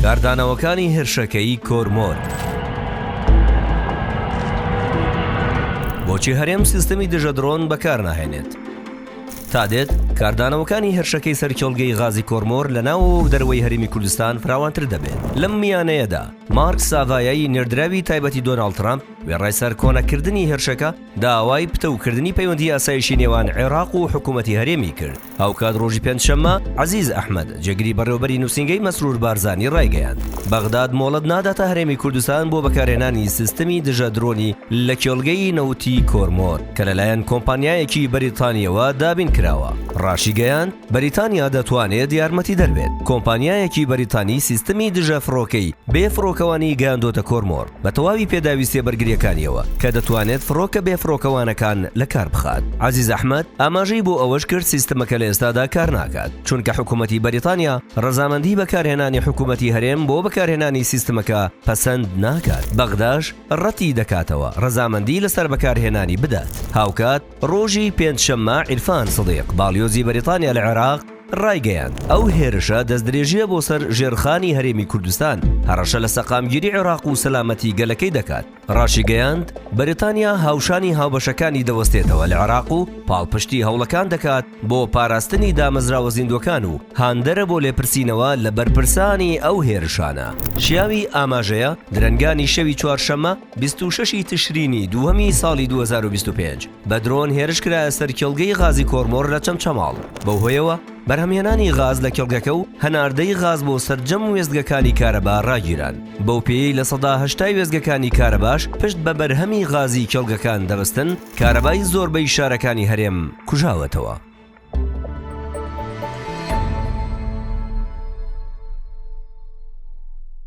کاردانەوەکانی هێرشەکەی کۆرمۆر. بۆچی هەرێم سیستەمی دژە درۆن بەکارناهێنێت؟ تادێت کاردانەوەکانی هێرشەکەی سەر کێڵگەی غازی کۆرمۆر لە ناوەوە و دەرەوەی هەرێمی کوردستان فراوانتر دەبێت. لەم میانەیەدا مارک ساڤایای نێردراوی تایبەتی دۆناڵد ترامپ وێڕای سەرکۆنەکردنی هێرشەکە، داوای پتەوکردنی پەیوەندی ئاسایشی نێوان عێراق و حکوومەتی هەرێمی کرد. هاوکات ڕۆژی پێنجشەممە، عەزیز ئەحمەد، جێگری بەڕێوەبەری نووسینگەی مەسرور بارزانی ڕایگەیاند، بەغداد مۆڵەت ناداتە هەرێمی کوردستان بۆ بەکارهێنانی سیستمی دژە درۆنی لە کێڵگەی نەوتی کۆرمۆر کە لەلایەن کۆمپانیایەکی بەریتانییەوە دابین کراوە. ڕاشیگەیاند، بەریتانیا دەتوانێت یارمەتیدەر بێت، کۆمپانیایەکی بەریتانی سیستمی دژە فڕۆکەی بێ فڕۆکەوانی گەیاندۆتە کۆرمۆر. بە تەواوی پێداویستیە بەرگریەکانیەوە کە دەتوانێت فڕۆکە بێ فڕۆکەوانەکان لە کار بخات. عەزیز ئەحمەد ئاماژەی بۆ ئەوەش کرد سیستمەکە لە ئێستادا کار ناکات چونکە حکومەتی بەریتانیا ڕەزامەندی بەکارهێنانی حکومەتی هەرێم بۆ بەکارهێنانی سیستمەکە پەسەند ناکات بەغداش ڕەتی دەکاتەوە ڕەزامەندی لەسەر بەکارهێنانی بدات هاوکات ڕۆژی پێنج شەممە عیرفان سدیق باڵیۆزی بەریتانیا لە عێراق ڕایگەیاند، ئەو هێرشە دەستدرێژییە بۆ سەر ژێرخانی هەرێمی کوردستان، هەڕەشە لە سەقامگیری عێراق و سەلامەتی گەلەکەی دەکات. ڕاشیگەیاند، بەریتانیا هاوشانی هاوبەشەکانی دەوەستێتەوە لە عێراق و پاڵپشتی هەوڵەکان دەکات بۆ پاراستنی دامەزراوە زیندووەکان و هاندەرە بۆ لێپرسینەوە لە بەرپرسانی ئەو هێرشانە. شیاوی ئاماژەیە، درەنگانی شەوی چوارشەممە، بیست و شەش ی تشرینی دووەمی ساڵی دوو هەزار و بیست و پێنج، بە درۆن هێرش کرایە سەر کێڵگەی غازی کۆرمۆر لە چەمچەماڵ، بەو هۆیەوە بەرهەمهێنانی غاز لە کێڵگەکە و هەناردەی غاز بۆ سەرجەم وێستگەکانی کارەبا راگیران، بەو پێیەی لە سەدا هەشتای وێستگەکانی کارەباش پشت بە بەرهەمی غازی کێڵگەکان دەبەستن، کارەبای زۆربەی شارەکانی هەرێم کوژاوەتەوە.